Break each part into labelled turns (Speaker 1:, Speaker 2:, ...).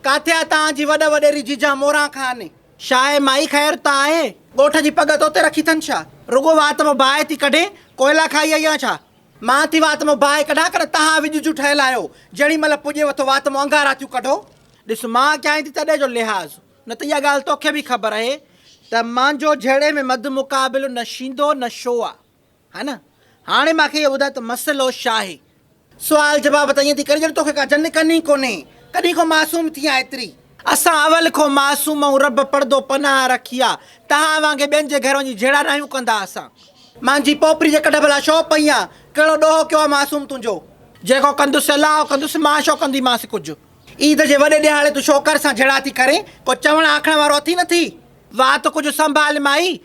Speaker 1: ڪاٿي آ تان جي وڏ وڏيري جيجا موران خان. شاهه مائي خير ته آهي. ڳوٺ جي پڳ توتي رکي ٿن ڇا. رڳو وات مان باهه ٿي ڪڍين ڪوئلا کائي آئي آن ڇا. مان ٿي وات مان باهه ڪڍان ڪڏهن تهان وڄ جون ٺهيل آهيو جهڙي مهل پڄيو اٿو وات مان اڱارا ٿيون ڪڍو. ڏس مان ڪيائين ٿي تڏهن جو لحاظ نه ته اها ڳالهه توکي به خبر اهي ته مانجو جهيڙي ۾ مد مقابل نه شيندو نه شو آ. ها نه هاڻي مان کي اهو ٻڌاء ته مسئلو ڇاهي؟ سوال جواب ته ائين ٿي ڪرين ڄڻ توکي ڪا جن ڪن ئي ڪونهي. ڪڏهن کان معصوم ٿي آهين ايتري؟ اسان اول کان معصوم آهيون رب پڙدو پناهه رکي آ. توهان وانگي ٻين جي گهر وڃي جهيڙا ناهيون ڪندا اسان. مانجهي پوپري جي ڪڍ ڀلا ڇو پئي آن؟ ڪهڙو ڏوهه ڪيو آ معصوم تنهنجو؟ جيڪو ڪندس الاهه ڪندس مان ڇو ڪنديمانس ڪجهه؟ عيد جي وڏي ڏهاڙي تون ڇوڪر سان جهيڙا ٿي ڪرين ڪو چوڻ آکڻ وارو اٿئي نٿي؟ وات ڪجهه سنڀال مائي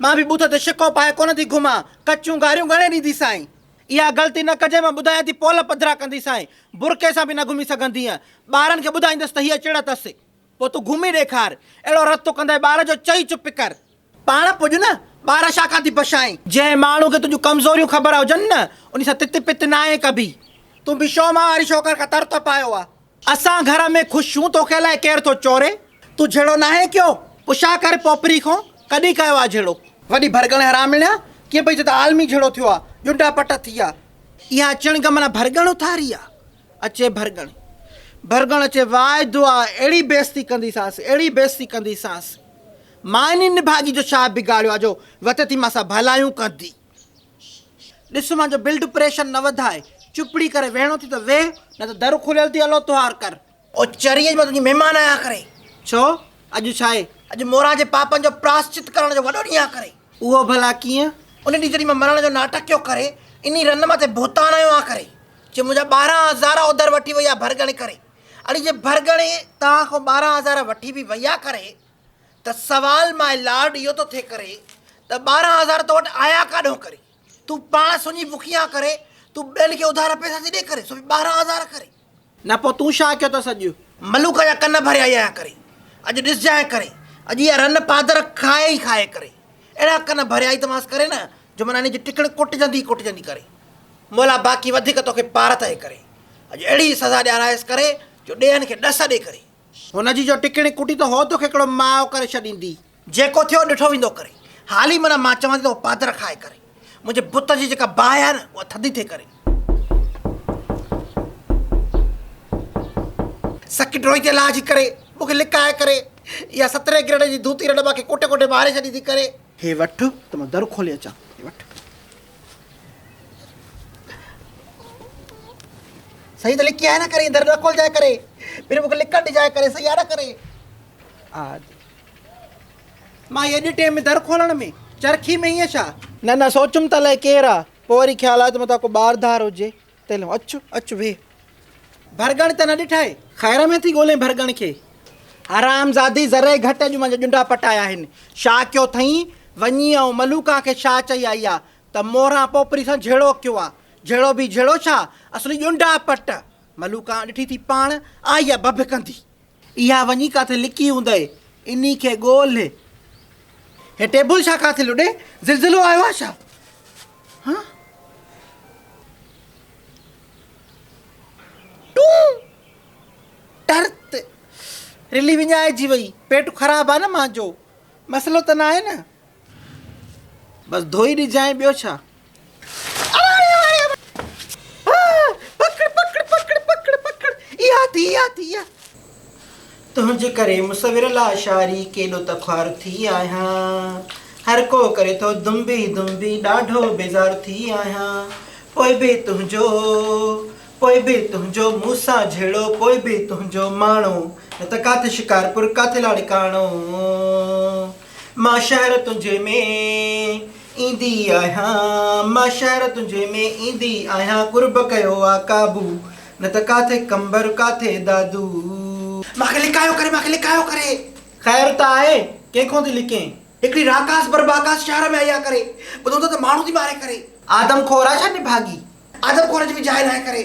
Speaker 1: مان به ٻوٿ تي شڪو پائي ڪونه ٿي گهمان، ڪچيون گاريون گهڻي ڏيندي سائين. اها غلطي نه ڪجي مان ٻڌايان ٿي پول پڌرا ڪندي سائين، برقعي سان به نه گهمي سگهندينء، ٻارن کي ٻڌائيندس ته هيء چڙ اٿس، پوء تون گهمي ڏيکار، اهڙو رتو ڪندي ٻار جو چئي چپ ڪر. پاڻ پڄ نه، ٻار ڇا کان ٿي بشائين. جنهن ماڻهوء کي تنهنجون ڪمزوريون خبر هجن نه، انهي سان تت پت ناهي ڪبي. تون به شو مان واري شوڪر کان تر ٿو پايو آ. اسان گهر ۾ خوش ڇون توکي لاء ڪير ٿو چوري. تون جھيڙو ناهي ڪيو پڇا ڪر پوپري کون ڪڏهن ڪيو آ جھيڙو. وڏي ڀرڳڻ حرامڻيا ڪيئن پئي چئي ته عالمي جھيڙو ٿيو آ ڄنڊا پٽ ٿي آ. اها چڻگ معنيٰ ڀرڳڻ اٿاري آ. اچي ڀرڳڻ ڀرڳڻ اچي واء دعا اهڙي بيعزتي ڪنديسانس اهڙي بيعزتي ڪنديسانس ماني نڀاڳي جو ڇا بگاڙيو آ جو وتي ٿي مان سان ڀلايون ڪندي. ڏس مان جو بلڊ پريشر نه وڌاء. چپڙي ڪري ويهڻو ٿي ته ويهه، نه ته در کليل ٿي الو تهار ڪر. او چريء جي مان تنهنجي مهمان آهيان ڪري. ڇو؟ اڄ ڇا آهي؟ اڄ موران جي پاپن جو پراشچت ڪرڻ جو وڏو ڏينهن آهي ڪري. اهو ڀلا ڪيئن؟ ان ڏينهن جڏهن مان مرڻ جو ناٽڪ ڪيو ڪري، انهي رن مٿي ڀوتان هنيو آهيان ڪري، جي منهنجا ٻارهن هزار اوڌر وٺي وئي آهي ڀرڳڻي ڪري. اڙي جي ڀرڳڻي توهان کان ٻارهن هزار وٺي به وئي آهي ڪري، ته سوال ماء لارڊ اهو ٿو ٿي ڪري ته ٻارهن هزار تو وٽ آيا ڪاڏهون ڪري تون پاڻ سڃي بکيان ڪري تون ٻين کي اڌارا پئسا ٿي ڏي ڪري سو به ٻارهن هزار ڪري. نه پوء تون ڇا ڪيو اٿس اڄ. ملوڪ جا ڪن ڀري آئي آهيان ڪري اڄ ڏسجانء ڪري اڄ اها رن پادر کائي ئي کائي ڪري اهڙا ڪن ڀري آئي توهانس ڪري نه جو منا انهي جي ٽڪڻ ڪٽجندي ئي ڪٽجندي ڪري مولا باقي وڌيڪ توکي پارت اهي ڪري اڄ اهڙي سزا ڏيارائيس ڪري جو ڏيهن کي ڏس ڏي ڪري. هن جي جو ٽڪڻي ڪٽي ته هو توکي هڪڙو ماء ڪري ڇڏيندي. جيڪو ٿيو ڏٺو ويندو ڪري. هالي منا مان چوان ٿي ته اهو پادر کائي ڪري. منهنجي بت جي جيڪا باهه آهي نه اها ٿڌي ٿئي ڪري. سڪي ڊوئي تي لاهجي ڪري مونکي لڪائي ڪري. اها سترهين گريڊ جي ڌوتي رڍ مان کي ڪٽي ڪٽي ماري ڇڏيندي ڪري. هي وٺ ته مان در کولي اچان. هي وٺ. سائين ته لکي آهي نه ڪري در نه کولجائي ڪري پھر مونکي لکڻ ڏجائي ڪري سائين آ نه ڪري آ ماء اڄ ٽيم ۾ در کولڻ ۾ چرخي ۾ ائين ڇا نه نه سوچيم ته الائي ڪير آ پوء وري خيال آيو ته متان ڪو ٻار ڌار هجي تيلهو اچ اچ ويهه، ڀرڳڻ ته نه ڏٺائي. خير ۾ ٿي ڳولين ڀرڳڻ کي. حرامزادي ذري گهٽ اڄ منهنجا ڄنڊا پٽايا آهن. شاهه ڪيو اٿئين، وڃي آئون ملوڪان کي شاهه چئي آئي آ ته موران پوپري سان جهيڙو ڪيو آ. جهيڙو به جهيڙو ڇا، اصلي ڄنڊا پٽ. ملوڪان ڏٺي ٿي پاڻ آئي آ ڀڀڪندي. اها وڃي ڪاٿي لڪي هوندئي، انهي کي ڳولهه. هي ٽيبل ڇا ڪاٿي لڏي، زلزلو آيو آهي ڇا؟ هان؟ ٽون! ٽرت! رلي وڃائجي وئي، پيٽ خراب آهي نه مانجو، مسئلو ته ناهي نه؟ بس ڌوئي ڏجانء، ٻيو ڇا؟ تنهنجي ڪري مصور لا شعري ڪيڏو ته خوار ٿي آهيان هر ڪو ڪري ٿو دنبي دنبي ڏاڍو بيزار ٿي آهيان پوء به تنهنجو پوء به تنهنجو مون سان جهيڙو پوء به تنهنجو ماڻو نه ته ڪاٿي شڪارپور ڪاٿي لاڙڪاڻو مان شهر تنهنجي ۾ ايندي آهيان مان شهر تنهنجي ۾ ايندي آهيان قرب ڪيو آ قابو نه ته ڪاٿي قنبر ڪاٿي دادو. مان کي لڪايو ڪري مان کي لڪايو ڪري. خير ته آهي ڪنهن کون ٿي لڪين. هڪڙي راڪاس بر باڪاس شهر ۾ آئي آ ڪري. ٻڌو ته ماڻهو ٿي ماري ڪري. آدم خور آ ڇا نڀاڳي. آدم خور جي به جاء ناهي ڪري.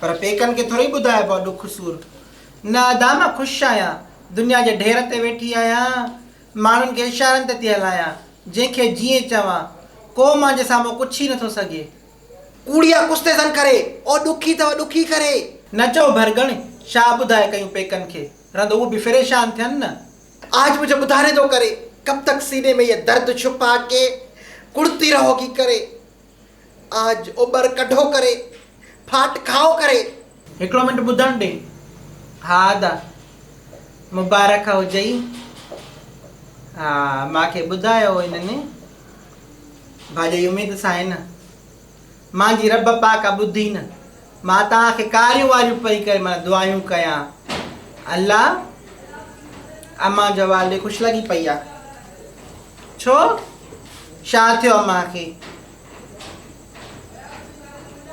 Speaker 1: پر پيڪن کي ٿورئي ٻڌائبو آ ڏک سور. نه ادا مان خوش آهيان. دنيا جي ڍير تي ويٺي آهيان. ماڻهن کي اشارن تي ٿي هلايان. جنهن کي جيئن چوان. ڪو مانجي سامهون ڪڇي نٿو سگهي. ڪوڙيا ڪڇ تي زن ڪري. او ڏکي ٿو ڏکي ڪري. نه چئو ڀرڳڻ شاهه ٻڌائي ڪيون پيڪن کي. رند اهو به فريشان ٿين نه. آج مجهه ٻڌاري ٿو ڪري. ڪب تڪ سيني ۾ يه درد ڇپا ڪي. ڪڙتي رهوگي ڪري. آج اوٻر ڪڍو ڪري، ڦاٽ کائو ڪري. هڪڙو منٽ ٻڌڻ ڏي. ها ادا مبارڪ هجئي ها مان کي ٻڌايو هنن ڀاڄئي اميد سان هي نه مان جي رب پاڪ آ ٻڌي نه. مان توهان کي ڪاريون واريون پئي ڪري معنيٰ دعايون ڪيان الله امان جو والدي خوش لڳي پئي آ ڇو شا ٿيو امان کي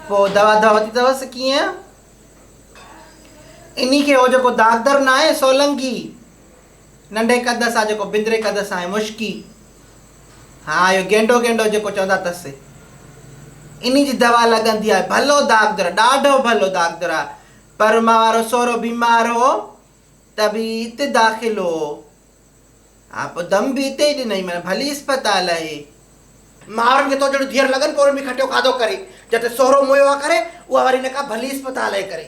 Speaker 1: پو دوا دوا ورتي اٿس ڪيئن اني کي هو جيڪو داغدر ناهي سولنگي ننڍي قد سان جيڪو بندري قد سان ۽ مشڪي ها اهو گينڊو گينڊو جيڪو چوندا تس انهي جي دوا لڳندي آهي ڀلو داغدر ڏاڍو ڀلو داغدر آهي پر مان وارو سورو بيمار هو ته به ات داخل هو ها پوء دم به اتي ئي ڏنئي معنيٰ ڀلي اسپتال اهي ماڻهن کي تو جهڙو ڌيئر لڳن پوء ان ۾ کٽيو کاڌو ڪري جتي سورو مويو آ ڪري اها واري نڪا ڀلي اسپتال اهي ڪري.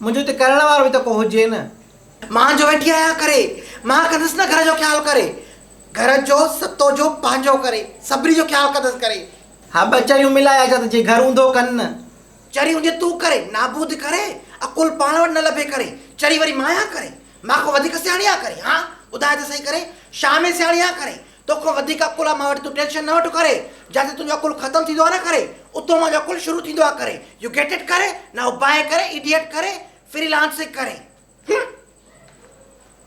Speaker 1: منهنجو ته ڪرڻ وارو به ته ڪو هجي نه. مان جو ويٺي آهيان ڪري. مان ڪندس نه گهر جو خيال ڪري. گهر جو ستو جو پنهنجو ڪري. سڀني جو خيال ڪندس ڪري. ها ٻه چريون ملائي اچان ته جي گهر اوندو ڪن نه. چري اوندي تون ڪري. نابود ڪري. عقل پاڻ وٽ نه لڀي ڪري. چري وري مان آهيان ڪري. مان ڪو وڌيڪ سياڻي آهيان ڪري. ها ٻڌاء ته سهي ڪري. شاهه ۾ سياڻي آهيان ڪري. توکان وڌيڪ عقل آ مان وٽ تون ٽينشن نه وٺ ڪري جاتي تنهنجو عقل ختم ٿيندو آ نه ڪري اتو منهنجو عقل شروع ٿيندو آ ڪري يو گيٽ اٽ ڪري نائو بائي ڪري ايڊيٽ ڪري فري لانسنگ ڪري هم.